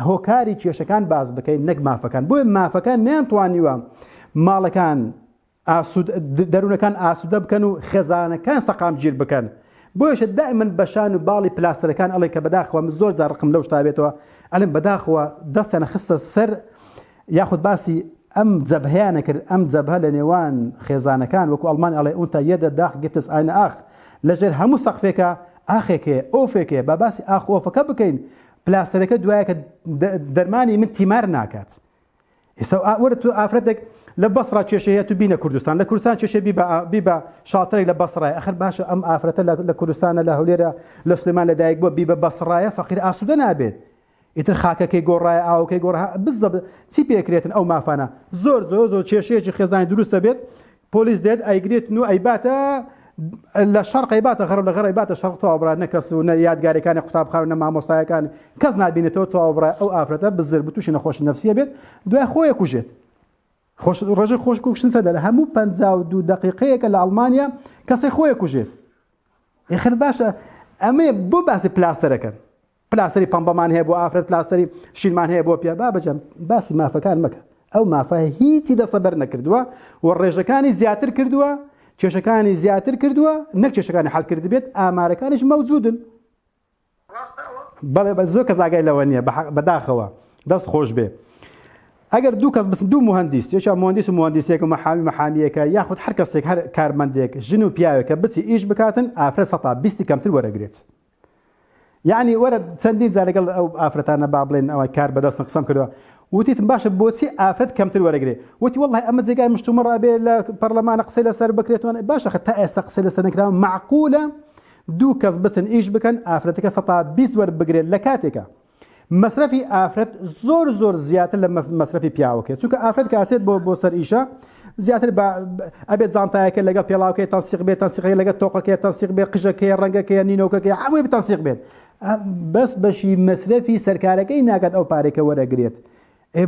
هۆکاری کێشەکان باس بکەین نەک مافەکان بۆیە مافەکان نیان توانیوە ماڵەکان دەروونەکان ئاسوودە بکەن و خێزانەکان سەقام گیر بکەن بۆیشە دائمن بەشان و باڵی پلاستەرەکان ئەڵێ کە بەداخەوە من زۆر زارقم لەو شتابێتەوە ئەلم بەداخەوە دەستیانە خستە سەر یاخود باسی ئەم جەبهیانە کرد ئەم جەبهە لە نێوان خێزانەکان وەکو ئەڵمان ئەڵێ ئونتا یەدە داخ گتس ئاینە ئاخ لەژێر هەموو سەقفێکە ئاخێکێ ئۆفێکێ با باسی ئاخ ئۆفەکە بکەین پلاستەرەکە دوایە کە دەرمانی من تیمار ناکات ئێستا وەرە تو ئافرەتێک لە بەسڕ کێشەیە تو بینە کوردستان لە کوردستان کێشە بیبە شاتەی لە بەسڕای ئەخر باشە ئەم ئافرەتە لە کوردستانە لە هەولێرە لە سلێمان لەدایک بۆ بیبە بەسڕایە فەقیر ئاسوودە نابێت ئیتر خاکەکەی گۆڕایە ئاوکەی گۆڕ بزە چی پێکرێتن ئەو مافانە زۆر زۆر زۆر کێشەیەکی خێزانی دروستە بێت پۆلیس دێت ئەیگرێتن و ئەیباتە لە شەرق ئەیباتە غەرب لە غەر ئەیباتە شەرق تەواوبرا نە کەس و نە یادگارەکانی قوتابخانە نە مامۆستایەکان کەس نبینێتەوە تەواوبرا ئەو ئافرەتە بزر بتوشی نەخۆش نفسیە بێت دوای خۆیە کوژێت خۆش ڕژە خۆش کوشتن سەدە لە هەموو پ دوو دقیقەیەکە لە ئەڵمانیا کەسی خۆیە کوژێت ئێخر باشە ئەمێ بۆ باسی پلاستەرەکەن پلاسەری پەمبەمان هەیە بۆ ئافرەت پلاسەری شینمان هەیە بۆ پیا بابەجان باسی مافەکان مەکە ئەو مافە هیچی دەستە بەر نەکردووە و ڕێژەکانی زیاتر کردووە کێشەکانی زیاتر کردووە نەک کێشەکانی حلکرد بێت ئامارەکانش مەوجودن بەڵێ بە زۆر کەزاگای لەوە نییە بەداخەوە دەست خۆش بێ ئەگەر دوو کەس بس دوو مهندیس یەکە مهندیس و مهندیسێک و مەحامی مەحامیەکە یاخود هەر کەسێک هەر کارمەندێک ژن و پیاوێکە بچی ئیش بکاتن ئافرەت سەتا بیستی کەمتر وەرەگرێت یعنی وەرە چەندین جار لەگەڵ ئەو ئافرەتانە با بڵێن ئەوان کار بەدەستن قسەم کردووە وتیتم باشە بۆچی ئافرەت کەمتر وەرەگرێ وتی واللە ئەمە جێگای مشتومڕ ئەبێ لە پەرلەمانە قسەی لەسەر بکرێتەوە باشە خە تا ئێستا قسەی لەسەر نەکراوە معقولە دوو کەس بچن ئیش بکەن ئافرەتەکە سەتا بیست وەربگرێت لە کاتێکە مەسرەفی ئافرەت زۆر زۆر زیاتر لە مەسرەفی پیاوەکەی چونکە ئافرەت کاتێت بۆ بۆ سەر ئیشە زیاتر بە ئەبێت زانتایەکە لەگەڵ پێڵاوکەی تەنسیق بێت تەنسیقی لەگە تۆقەکەی تەنسیق بێت قژەکەی ڕەنگەکەی نینۆکەکەی هەمووی بتەنسیق بێت بەس بەشی مەسرەفی سەرکارەکەی ناکات ئەو پارێکە وەرەگرێت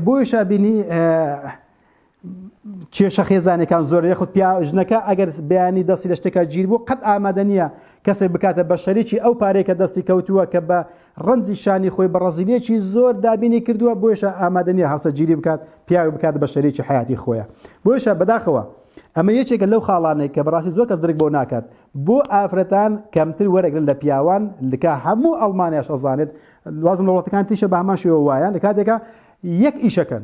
بۆیشە بینی کێشە خێزانەکان زۆر یخود پیا ژنەکە ئەگەر بەیانی دەستی لە شتێکە گیر بوو قەت ئامادە نییە کەسێک بکاتە بە شەریکی ئەو پارەیە کە دەستی کەوتووە کە بە ڕەنجی شانی خۆی بە ڕزیلێکی زۆر دابینی کردووە بۆیشە ئامادە نییە هەسەگیری بکات پیاوی بکات بە شەریکی حیاتی خۆیە بۆیشە بەداخەوە ئەمە یەکێکە لەو خاڵانێک کە بەڕاستی زۆر کەس درک بۆ ناکات بۆ ئافرەتان کەمتر وەرەگرن لە پیاوان لکە هەموو ئەڵمانیاش ئەزانێت لازم لە وڵاتەکان تیشە بە هەمان شێوە وایە لە کاتێکە یەک ئیشەکەن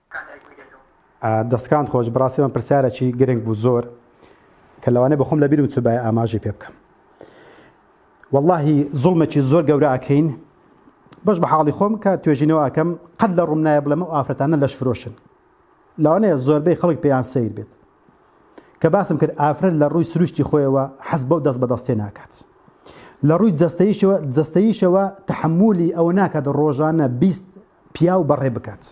کان دایک بوی دەتۆ. دەستکانت خۆش بەڕاستی ئەمە پرسیارەکی گرنگ بوو زۆر کە لەوانەیە بە خۆم لەبیرم چووبایە ئاماژەی پێ بکەم واللهی زوڵمێکی زۆر گەورە ئەکەین بەش بە حاڵی خۆم کە توێژینەوە ئەکەم قەت لە ڕووم نایە بڵێم ئەو ئافرەتانە لەش فرۆشن لەوانەیە زۆربەی خەڵک پێیان سیر بێت کە باسم کرد ئافرەت لە ڕووی سروشتی خۆیەوە حەز بەو دەست بەدەستێ ناکات لە ڕووی جەستەیشەوە جەستەیشەوە تحملی ئەوە ناکات ڕۆژانە بیست پیاو بەڕێ بکات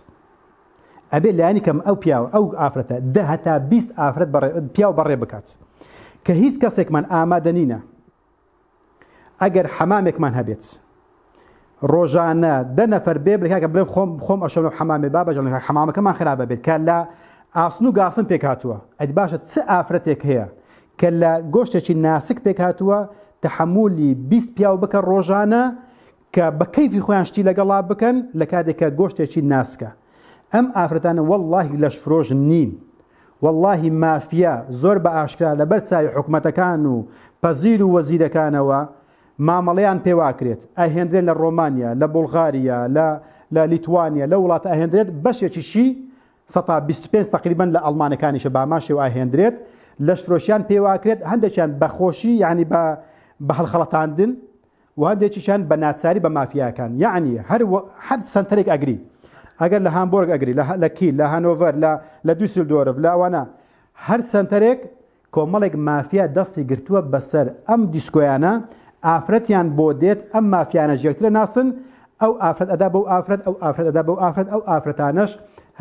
ئەبێ لایەنی کەم ئەو پیاو ئەو ئافرەتە دە هەتا بیست ئافرەت پیاو بەڕێ بکات کە هیچ کەسێکمان ئامادە نینە ئەگەر حەمامێکمان هەبێت ڕۆژانە دە نەفەر بێ بکە بڵێ خۆم خۆم ئەشەم حەمامێ با بەژڵ حەمامەکەمان خراپە بێت کە لە ئاسن و گاسن پێک هاتووە ئەد باشە چ ئافرەتێک هەیە کە لە گۆشتێکی ناسک پێک هاتووە تحملی 20 پیاو بکە ڕۆژانە کە بە کەیفی خۆیان شتی لەگەڵا بکەن لە کاتێک کە گۆشتێکی ناسکە ئەم ئافرەتانە وەڵاهی لەشفرۆش نین وەڵاهی مافیا زۆر بە ئاشکرا لەبەر چاوی حکومەتەکان و پەزیر و وەزیرەکانەوە مامەڵەیان پێواکرێت ئەهێندرێن لە ڕۆمانیا لە بولغاریا لە لە لیتوانیا لە وڵاتە ئەهێندرێت بەشێکیشی سەتا 25 تقریبن لە ئەڵمانەکانیشە باماشێ و ئاهێندرێت لەشفرۆشیان پێواکرێت هەندێکیان بەخۆشی یعنی بە بە هەڵخەڵەتاندن وهەندێکیشیان بە ناچاری بە مافیاکان یەعنی هەر وە هەر سەنتەرێک ئەگری ئەگەر لە هامبۆرگ ئەگری لە لە کیل لە هەنۆڤەر لە لە دوسیلدۆرف لە ئەوانە هەر سەنتەرێک کۆمەڵێک مافیا دەستی گرتووە بەسەر ئەم دیسکۆیانە ئافرەتیان بۆ دێت ئەم مافیانەش یەکترە ناسن ئەو ئافرەت ئەدا بەو ئافرەت ئەو ئافرەت ئەدا بەو ئافرەت ئەو ئافرەتانەش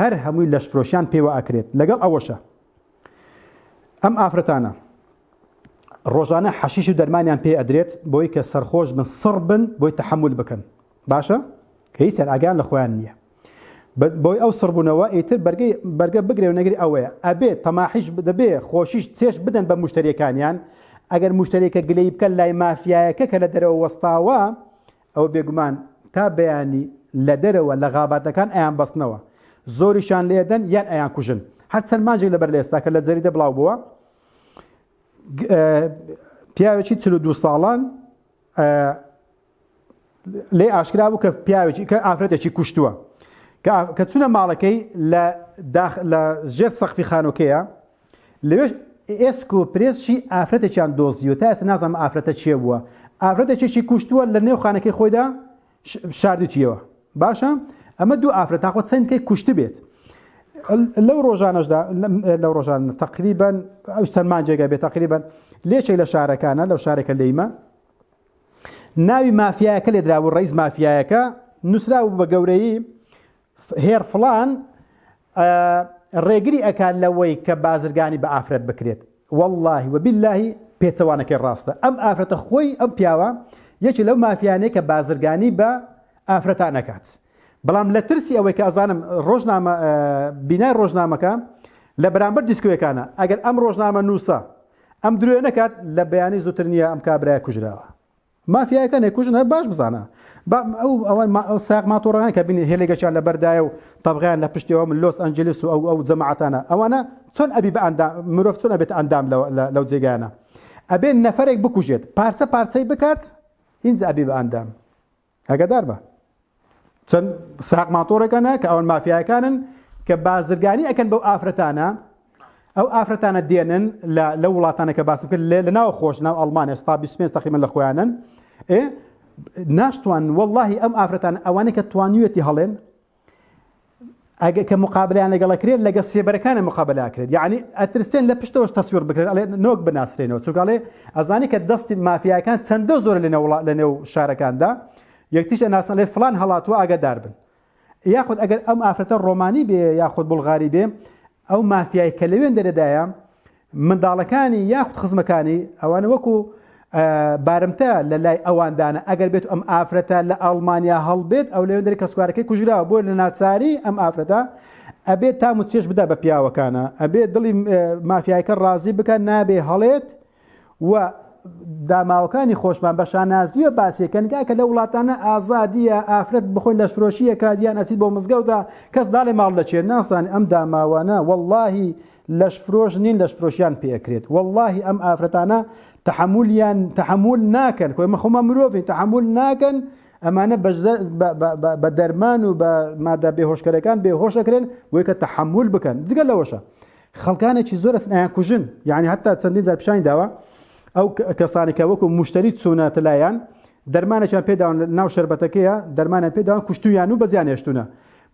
هەر هەمووی لەشفرۆشیان پێوە ئەکرێت لەگەڵ ئەوەشە ئەم ئافرەتانە ڕۆژانە حەشیش و دەرمانیان پێ ئەدرێت بۆی کە سەرخۆش بن سڕ بن بۆی تحمل بکەن باشە کە هیچیان ئاگان لە خۆیان نییە بۆی ئەو سڕبوونەوە ئیتر بەرگی بەرگە بگرێ و نەگری ئەوەیە ئەبێت تەماحیش دەبێ خۆشیش چێش بدەن بە مشتریەکانیان ئەگەر مشتێکە گلەی بکە لای مافیایەکە کە لە دەرەوە وەستاوە ئەوە بێگومان تا بەیانی لە دەرەوە لە غاباتەکان ئەیانبەستنەوە، زۆریشیان لێدەن یان ئەیانکوژن. هەر چەند مانجێک لەبەر لە ئێستاکە لە جەریدە بڵاوبووە، پیاوێکی چل و دوو ساڵان لێ ئاشکرا بوو کە پیاوێکی کە ئافرەتێکی کوشتووە کە چونە ماڵەکەی لە ژێر سەخفی خانۆکەیە لەوێش ئێسک و پرێسشی ئافرەتێکیان دۆزیوە، تا ئێستا نازانم ئافرەتە کێ بووە، ئافرەتێکیشی کوشتووە لە نێو خانەکەی خۆیدا شاردوتیەوە، باشە ئەمە دوو ئافرەت تاخۆ چەند کەی کوشتبێت. لەو ڕۆژانەشدا لەو ڕۆژان تقریبان ئەو سەلمان جێگە بێت تقریبان لێچێک لە شارەکانە لەو شارێکە لێیمە ناوی مافیایەکە لێدرابوو ڕیز مافیایەکە نووسرا بوو بە گەورەی هێر فڵان ڕێگری ئەکات لەوەی کە بازرگانی بە ئافرەت بکرێت واللهی وباللهی پێچەوانەکەی ڕاستە ئەم ئافرەتە خۆی ئەم پیاوە یەکی لەو مافیانەیە کە بازرگانی بە ئافرەتان نەکات بەڵام لە ترسی ئەوەی کە ئەزانم ڕۆژنامە بینای ڕۆژنامەکە لە بەرامبەر دیسکوێکانە ئەگەر ئەم ڕۆژنامە نووسە ئەم درێ نەکات لە بەیانی زووتر نییە ئەم کابراە کوژراوە مافیایەکان ئەکوژن هەر باش بزانە با ئەو ئەوان ئەو ساق ماتۆڕەکان کە بینی هێلێکەکیان لە بەردایە و تەبغیان لە پشتەوە من لۆس ئەنجلیس و ئەو ئەو جەماعەتانە ئەوانە چۆن ئەبی بە ئەندا مرۆڤ چۆن ئەبێت ئەندام لەو جێگایانە ئەبێ نەفرێک بکوژێت پارچە پارچەی بکات هینج ئەبی بە ئەندام ئەگەدار بە چەند ساق ماتۆڕێکانە کە ئەوان مافیایەکانن کە بازرگانی ئەەکەن بەو ئافرەتانە ئەو ئافرەتانە دێنن لە وڵاتانە کە باس کرد لە ناو خۆش ناو ئەڵمانە ستا 25 تەقیمە لە خۆیانن ئێ ناشتوان واللهی ئەم ئافرەتان ئەوانەی کە توانیوێتی هەڵێن ئەگە کە مقابلیان لەگەڵ کرێت لەگە سێبەرەکانە مقابلا کرێت یعنی ئەترسێن لە پشتەوەش تەسویر بکرێت ئەڵێ نۆک بناسرێنەوە چووکڵێ ئەزانی کە دەستی مافیاکان چەندە زۆر لە نەوڵ لە نێو شارەکاندا یەکتیش ئەناسن لێ فلان هەڵاتوە ئاگادار بن یاخود ئەگەر ئەم ئافرەتە ڕۆمانی بێ یاخود بڵغاری بێ ئەو مافیای کە لەوێن دەرەدایە منداڵەکانی یاخود خزمەکانی ئەوان وەکو بارمتە لە لای ئەواندانە ئەگەر بێت ئەم ئافرەتە لە ئاڵمانیا هەڵبێت ئەو لەوێن دەری کەسکارەکەی کوژراوە بۆ لە ناچاری ئەم ئافرەتە ئەبێت تام و چێش بدا بە پیاوەکانە ئەبێت دڵی مافیایەکە ڕازی بکە نابێ هەڵێت و داماوەکانی خۆشمان بە شانازیە باسیەکەنگا کە لە وڵاتانە ئازادیە ئافرەت بخۆی لە شرۆشیەکە دیان ئەچیت بۆ مزگەوتە کەس داڵێ ماڵ دەچێت ناسان ئەم داماوانە واللهی لەشفرۆش نین لەشفرۆشیان پێ ئەکرێت وەڵاهی ئەم ئافرەتانە تەحەمولیان تەحەمول ناکەن خۆی مە خۆمان مرۆڤین تەحەمول ناکەن ئەمانە بە دەرمان و بە مادە بێهۆشکەرەکان بێهۆشەکرێن بۆی کە تەحەمول بکەن جگە لەوەشە خەڵکانێکی زۆر ئەسنایان کوژن یعنی هەتا چەندین زار پیشانی داوە ئەو کەسانی کە وەکو مشتری چوونەتە لایەن دەرمانێکیان پێداوان ناو شربەتەکەیە دەرمانە پێداوان کوشتویان و بەزیان هێشتونە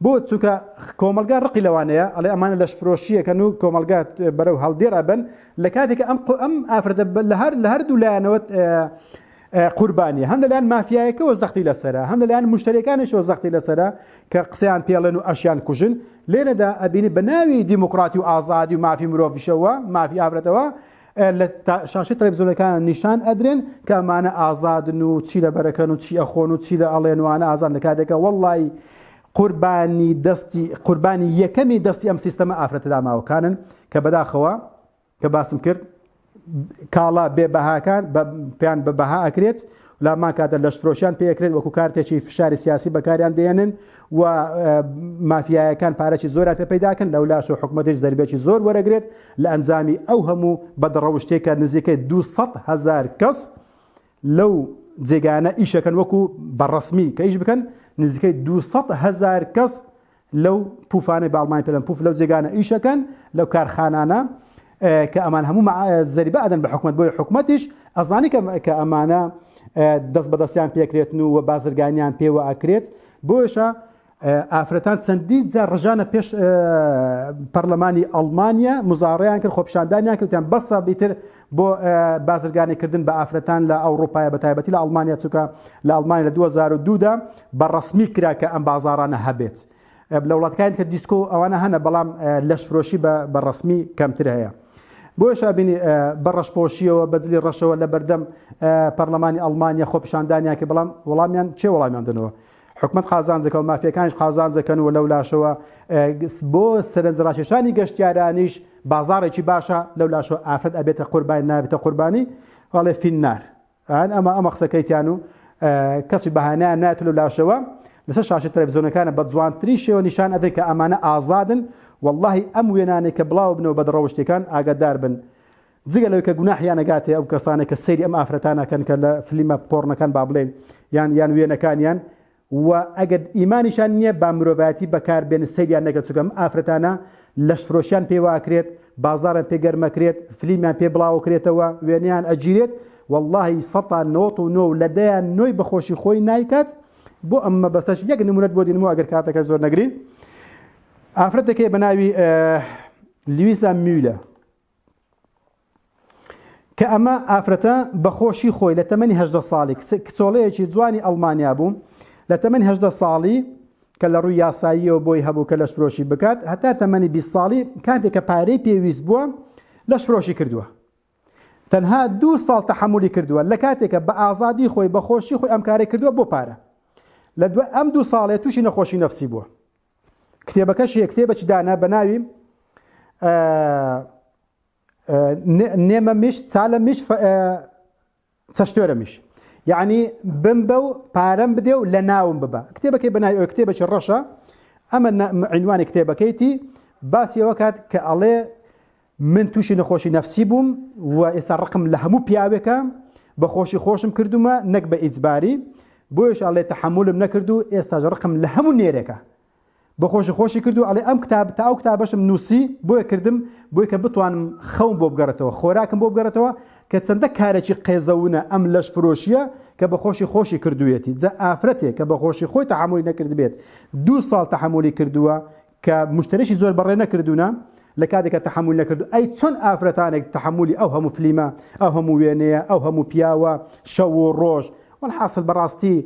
بۆ؟ چونکە کۆمەڵگا ڕقی لەوانەیە، ئەڵێ ئەمانە لەشفرۆشییەکەن و کۆمەڵگا بەرەو هەڵدێر ئەبەن، لە کاتێکا ئەم ئەم ئافرەتە لە هەر لە هەردوو لایەنەوە قوربانییە، هەم لەلایەن مافیایەکەوە زەختی لەسەرە، هەم لەلایەن موشتەرییەکانیشەوە زەختی لەسەرە کە قسەیان پێ ڵێن و ئەشیان کوژن، لێرەدا ئەبینی بە ناوی دیموکراتی و ئازادی و مافی مرۆڤیشەوە، مافی ئافرەتەوە لە شاشی تەلەڤزیۆنەکان نیشان ئەدرێن کە ئەمانە ئازادن و چی لە بەرەکەن و چی ئەخۆن و چی لە ئەڵێنوانە ئازان لە کاتێکە وەڵی قوربانی دەستی قوربانی یەکەمی دەستی ئەم سیستەمە ئافرەتە داماوەکانن کە بەداخەوە کە باسم کرد کاڵا بێبەهاکان پێیان بە بەها ئەکرێت لە هەمان کاتدا لەشفرۆشیان پێ ئەکرێت وەکو کارتێکی فشاری سیاسی بەکاریان دێنن و مافیایەکان پارەی زۆران پێ پەیداکەن لەولاش و حکوومەتیش زەربێکی زۆر وەرەگرێت لە ئەنجامی ئەو هەموو بەدڕەوشتێک کە نزیکەی 200 هزار کەس لەو جێگانە ئیشەکەن وەکو بەڕسمی کە ئیش بکەن نزیکەی 200 هزار کەس لەو پوفانەی باڵمای پێلەن پوف لەو جێگانە ئیشەکەن لەو کارخانانە کە ئەمان هەموو زەریبە ئەدەن بە حکومت بۆی حکومەتیش ئەزانی کە ئەمانە دەست بەدەستیان پێکرێتن و و بازرگانیان پێوە ئەکرێت بۆشە ئافرەتان چەندی جا ڕژانە پێش پەرلەمانی ئەڵمانیا مزارڕیان کرد خۆپشاندانیان کردیان بەسە بیتر بۆ بازرگانیکردن بە ئافرەتان لە ئەوڕوپایە بەتایبەتی لە ئەڵمانیا چووکە لە ئەڵمانیا لە 2002 دا بە ڕەسمی کرا کە ئەم بازارانە هەبێت لە وڵاتکان کە دیسکۆ ئەوانە هەنە بەڵام لەشفرۆشی بە ڕسمی کەمتر هەیە بۆیشا بینی بە ڕەشپۆشیەوە بەجلی ڕەشەوە لە بەردەم پەرلەمانی ئەڵمانیا خۆپشاندانیان کە بەڵام وەڵامیان چێ وەڵامیان دنەوە حکومەت قازانجەکە و مافیەکانیش قازانجەکەن و لەولاشەوە بۆ سەرنج ڕاکێشانی گەشتیارانیش بازاڕێکی باشە لەولاشەوە ئافرەت ئەبێتە قوربانی نابێتە قوربانی ئەڵێ فیننار ئەن ئەمە ئەمە قسەکەیتیان و کەسی بەهانیان نایەت لەولاشەوە لەسەر شاشە تەلەڤزیۆنەکانە بە جوانترین شێوە نیشان ئەدەن کە ئەمانە ئازادن واللهی ئەم وێنانێک کە بڵاو بنەوە بە دڕەوشتەکان ئاگادار بن جگە لەوەی کە گوناحیان ئەگاتێ ئەو کەسانەی کە سەیری ئەم ئافرەتان ئەکەن کە لە فلیمە پۆڕنەکان با بڵێین یان یان وێنەکانیان و ئەگەر ئیمانیشان نییە با مرۆڤایەتی بەکار بێن سەیریان نەکەن چونکە ئەم ئافرەتانە لەشفرۆشیان پێ واکرێت بازارن پێ گەرمەکرێت فلیمیان پێ بڵاوکرێتەوە وێنەیان ئەگیرێت واللهی سەتان نۆت و نۆ لە دەیان نۆی بەخۆشی خۆی نایکات بۆ ئەم مەبەستەش یەک نمونەت بۆ دینمەوە ئەگەر کاتەکە زۆر نەگرین ئافرەتەکەی بە ناوی لویزا میولە کە ئەمە ئافرەتە بە خۆشی خۆی لە تەمەنی هەژدە ساڵی کچۆڵەیەکی جوانی ئەڵمانیا بوو لە تەمەنی هەژدە ساڵی کە لە ڕووی یاساییەوە بۆی هەبوو کە لەش فرۆشی بکات هەتا تەمەنی 20 ساڵی کاتێک کە پارەی پێویست بووە لەش فرۆشی کردووە تەنها دوو ساڵ تەحملی کردووە لە کاتێکە بە ئازادی خۆی بەخۆشی خۆی ئەم کارە کردووە بۆ پارە لە دوای ئەم دوو ساڵێ تووشی نەخۆشی نفسی بووە کتێبەکەش یە کتێبەکی دانە بە ناوی نێمە میش چالە میش چەشتۆرە میش یعنی بم بە و پارەم بدێ و لە ناوم ببە کتێبەکەی بەنای ئەو کتێبەکی ڕەشە ئەمە عینوانی کتێبەکەیتی باسیەوە کات کە ئەڵێ من توشی نەخۆشی نەفسی بووم و ئێستا ڕقم لە هەموو پیاوێکە بە خۆشی خۆشم کردومە نەک بە ئیجباری بۆیش ئەڵێ تەحملم نەکرد و ئێستاش ڕقم لە هەموو نێرێکە بە خۆشی خۆشی کرد و ئەڵێ ئەم کتاب تا ئەو کتابەشم نووسی بۆیە کردم بۆی کە بتوانم خەوم بۆ بگەڕێتەوە خۆراکم بۆ بگەڕێتەوە کە چەندە کارێکی قێزەونە ئەم لەش فرۆشیە کە بە خۆشی خۆشی کردوێتی جا ئافرەتێک کە بە خۆشی خۆی تەحملی نەکردبێت دوو ساڵ تەحملی کردووە کە مشتریشی زۆر بەڕێ نەکردوونە لە کاتێکە تحمل نەکردو ئەی چۆن ئافرەتانێک تحملی ئەو هەموو فلیمە ئەو هەموو وێنەیە ئەو هەموو پیاوە شەو و ڕۆژ والحاصل بەڕاستی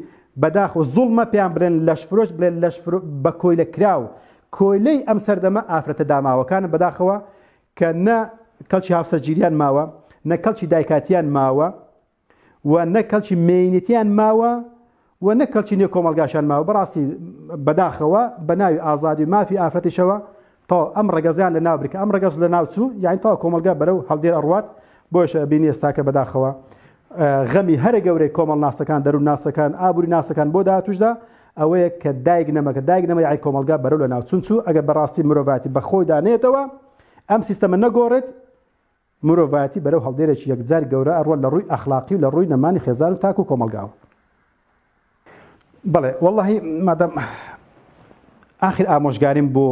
بەداخ و زوڵمە پێیان بڵێن لەشفرۆش بڵێن لەش بە کۆیلە کراو کۆیلەی ئەم سەردەمە ئافرەتە داماوەکانە بەداخەوە کە نە کەڵکی هاوسەرگیریان ماوە نە کەڵکی دایکاتیان ماوە و نە کەڵکی مێینەتیان ماوە و نە کەڵکی نێو کۆمەڵگاشان ماوە بەڕاستی بەداخەوە بە ناوی ئازادی و مافی ئافرەتیشەوە تەواو ئەم ڕەگەزیان لە ناو برکە ئەم ڕەگەز لە ناوچوو یاین تەواو کۆمەلگا بەرەو هەڵدێر ئەڕوات بۆش بینی ئێستاکە بەداخەوە غەمی هەرە گەورەی کۆمەڵ ناسەکان دەرو ناسەکان ئابووری ناسەکان بۆ داهاتوشدا ئەوەیە کە دایک نەمەکە دایک نەمە یای کۆمەلگا بەرەو لە ناوچون چوو ئەگە بەڕاستی مرۆڤاتی بەخۆی دانێتەوە ئەم سیستەمە نەگۆڕێت مرۆڤایەتی بەرەو هەڵدێرێکی یەکجار گەورە ئەڕوات لە ڕووی ئەخڵاقی و لە ڕووی نەمانی خێزان و تاک و کۆمەڵگاوە. بەڵێ وەڵاهی مادام ئاخر ئامۆژگاریم بۆ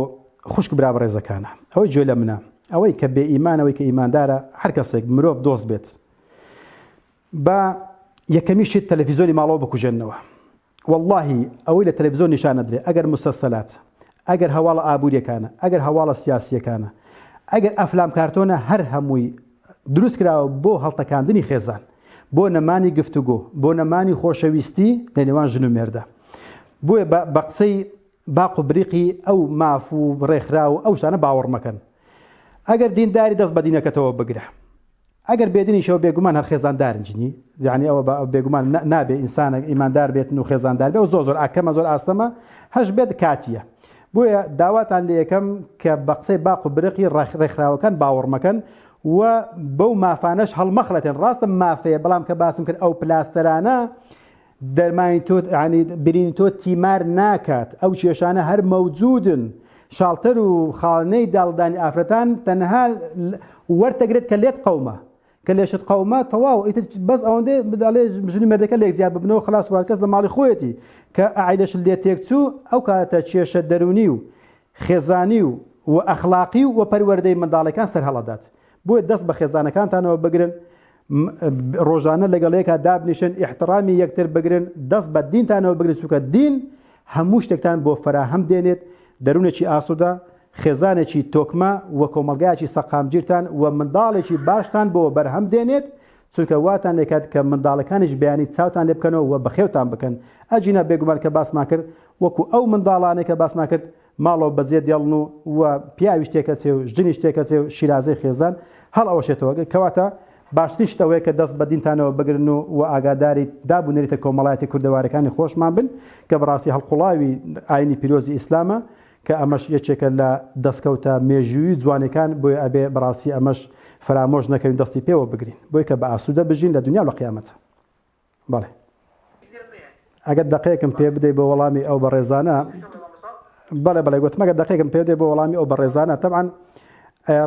خوشک برا بەڕێزەکانە ئەوەی جوێ لە منە ئەوەی کە بێ ئیمانەوەی کە ئیماندارە هەر کەسێک مرۆڤ دۆست بێت با یەکەمی شت تەلەفیزۆنی ماڵەوە بکوژێننەوە وەڵاهی ئەوەی لە تەلەفزۆن نیشان ئەدرێ ئەگەر موسەسەلات ئەگەر هەواڵە ئابووریەکانە ئەگەر هەواڵە سیاسیەکانە ئەگەر ئەفلام کارتۆنە هەر هەمووی دروست کراوە بۆ هەڵتەکاندنی خێزان بۆ نەمانی گفتوگۆ بۆ نەمانی خۆشەویستی لە نێوان ژن و مێردە بۆیە بە قسەی باق و بریقی ئەو ماف و ڕێکخرا و ئەو شتانە باوەڕ مەکەن ئەگەر دینداری دەست بە دینەکەتەوە بگرە ئەگەر بێدنیشەوە بێگومان هەر خێزاندارن جنی یعنی ئەوە بە بێگومان نابێ ئینسانە ئیماندار بێتن و خێزاندار بێ و زۆ زۆر ئاکەمە زۆر ئاستەمە هەش بێت کاتیە بۆیە داواتان لە یەکەم کە بە قسەی باق و برقی ڕێکخراوەکان باوەڕمەکەن و بەو مافانەش هەڵمەخڵەتێن ڕاستە مافەیە بەڵام کە باسم کرد ئەو پلاستەرانە دەرمانی تۆ عنی برینی تۆ تیمار ناکات ئەو کێشانە هەر مەوجودن شاڵتەر و خاڵنەی داڵدانی ئافرەتان تەنها وەرتەگرێت کە لێت قەومە کە لێشت قەومە تەواو ئیتر بەس ئەوەندە بداڵێ ژنی مردەکە لێک جیا ببنەوە خلاص وارکەس لە ماڵی خۆیەتی کە ئایلەش لێ تێکچوو ئەو کاتە کێشە دەرونی و خێزانی و و ئەخلاقی و وە پەروەردەی منداڵەکان سەرهەڵەدات بۆیە دەست بە خێزانەکانتانەوە بگرن م ڕۆژانە لەگەڵ یەکا دابنیشن ئیحتڕامی یەکتر بگرن دەست بە دینتانەوە بگرن چونکە دین هەموو شتێکتان بۆ فەراهەم دێنێت دەرونێکی ئاسودە خێزانێکی تۆکمە و کۆمەڵگایەکی سەقامگیرتان و منداڵێکی باشتان بۆ بەرهەم دێنێت چونکە واتان لێکات کە منداڵەکانیش بەیانی چاوتان لێ بکەنەوە و بەخێوتان بکەن ئەجینا بێگومان کە باسمان کرد وەکو ئەو منداڵانەی کە باسمان کرد ماڵەوە بەجێ دێڵن و و پیاویش تێکەچێ و ژنیش تێکەچێ و شیرازەی خێزان هەڵ ئەوەشێتەوە، کەواتە باشترین شت ئەوەیە کە دەست بە دینتانەوە بگرن و و ئاگاداری داب و نەریتە کۆمەڵایەتی کوردەوارەکانی خۆشمان بن کە بەڕاستی هەڵقوڵاوی ئاینی پیرۆزی ئیسلامە کە ئەمەش یەکێکە لە دەستکەوتە مێژووی و جوانێکان بۆیە ئەبێ بەڕاستی ئەمەش فەرامۆش نەکەین و دەستی پێوە بگرین بۆی کە بە ئاسوودە بژین لە دونیا و لە قیامەت. بەڵێ. ئەگەر دەقێکم پێ بدەی بۆ وەڵامی ئەو بەڕێزانە بەڵێ بەڵێ گوتم ئەگەر دەقێکم پێ بدەی بۆ وەڵامی ئەو بەڕێزانە تەبعەن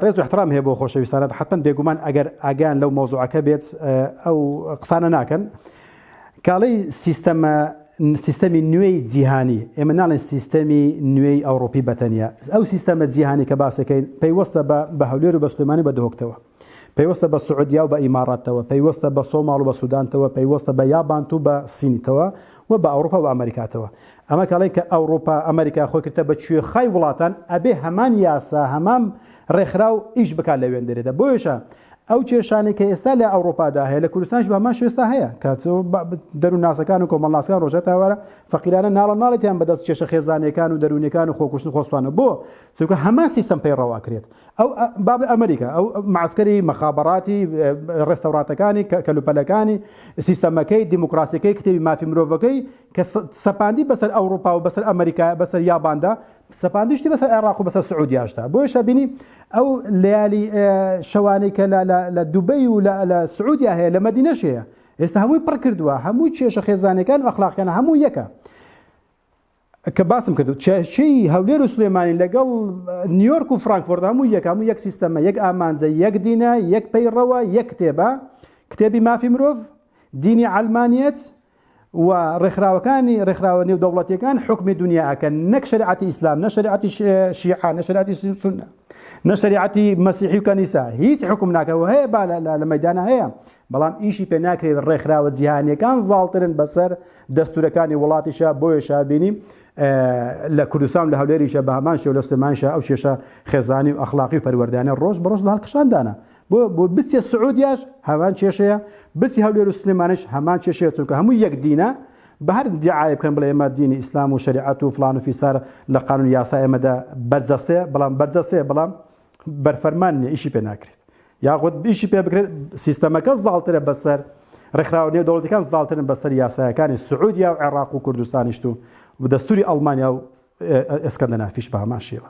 ڕێز و احترام هەیە بۆ خۆشەویستانە حتمن بێگومان ئەگەر ئاگیان لەو مۆزوعەکە بێت ئەو قسانە ناکەن کاڵی سیستەمە سیستەمی نوێی جیهانی ئێمە ناڵێن سیستەمی نوێی ئەوروپی بەتەنیا ئەو سیستەمە جیهانی کە باسەکەین پەیوەستە بە بە هەولێر و بەسلمانی بە دهۆکتەوە پەیوەستە بە سعودیاو بە ئیماڕاتەوە، پەیوەستە بە سۆماڵ و بە سودانتەوە، پەیوەستە بە یابانت و بە سینتەوە و بە ئەوڕوپا و بە ئەمەریکاتەوە. ئەمە کە ئەڵێن کە ئەوڕوپا، ئەمەریکا خۆی کردتە بە کوێخای وڵاتان، ئەبێ هەمان یاسا، هەمان ڕێکخراو ئیش بکات لە وێندەرێدا. بۆیەشە ئەو کێشانەی کە ئێستا لە ئەوڕوپادا هەیە، لە کوردستانیش بە هەمان شێوە ئێستا هەیە. کە دەروونناسەکان و کۆمەڵناسەکان ڕۆژگای تاوارە فەقیرانە ناڵە ناڵێتیان بەدەست کێشە خێزانییەکان و دەروونییەکان و خۆکوشتن و خۆسوتانەوە. بۆ؟ چونکە هەمان سیستەم پەیڕەو ئەکرێت ئەو با بڵێ ئەمریکا ئەو معسکەری مەخابەڕاتی ڕێستەورانتەکانی کەلوپەلەکانی سیستەمەکەی دیموکراسیەکەی کتێبی مافی مرۆڤەکەی کە سەپاندی بەسەر ئەوروپا و بەسەر ئەمریکا بەسەر یاباندا سەپاندیشتی بەسەر عێراق و بەسەر سعودیاشدا بۆیە شەبینی ئەو لەیالی شەوانەی کە لە دوبەی و لە سعودیا هەیە لە مەدینەش هەیە ئێستا هەمووی پڕ کردووە هەموو کێشە خێزانەکان و ئەخلاقیانە هەموو یەکە کە باسم کردو چێشەی هەولێر و سلێمانی لەگەڵ نیویۆرک و فرانکفۆرد هەموو یەک هەموو یەک سیستەمە یەک ئامانجە یەک دینە یەک پەیڕەوە یەک کتێبە کتێبی مافی مرۆڤ دینی ئەلمانیت و ڕێکخراوەکانی ڕێکخراوە نێو دەوڵەتەکان حکمی دنیاکە نەک شریعەتی ئیسلام نە شریعەتی شیعە نە شریعەتی سنە نە شریعەتی مەسیحی و کەنیسا هیچ حکم ناکەەوە هەیە با لە مەدانە هەیە بەڵام ئیشی پێ ناکرێت ڕێکخراوە جیهانیەکان زاڵترن بەسەر دەستورەکانی وڵاتیشا بۆیەشا بینی لە کوردستان لە هەولێریشە بە هەمان شێو لە سلێمانشە ئەو کێشە خێزانی و ئەخلاقی و پەروەردانە ڕۆژ بە ڕۆژ لە هەڵکشاندانە بۆ بۆ بچێ سعودیاش هەمان کێشەیە بچی هەولێر و سلێمانش هەمان کێشەیە چونکە هەموو یەک دینە بە هەر دیعاە بکەن بڵێ ئێمە دینی ئیسلام و شریعەت و فلان و فیسار لە قانون یاسا ئێمەدا بەرجەستەیە بەڵام بەرجەستەیە بەڵام بەرفەرمان نیە ئیشی پێ ناکرێت یاخود بیشی پێ بکرێت سیستەمەکە زاڵترە بەسەر ڕێکخراوە نێودەوڵەتەکان زاڵترن بەسەر یاسایەکانی سعودیا و عێراق و کوردستانیشت و دەستوری ئەڵمانیا و ئێسکەندەنافیش بە هەمان شێوە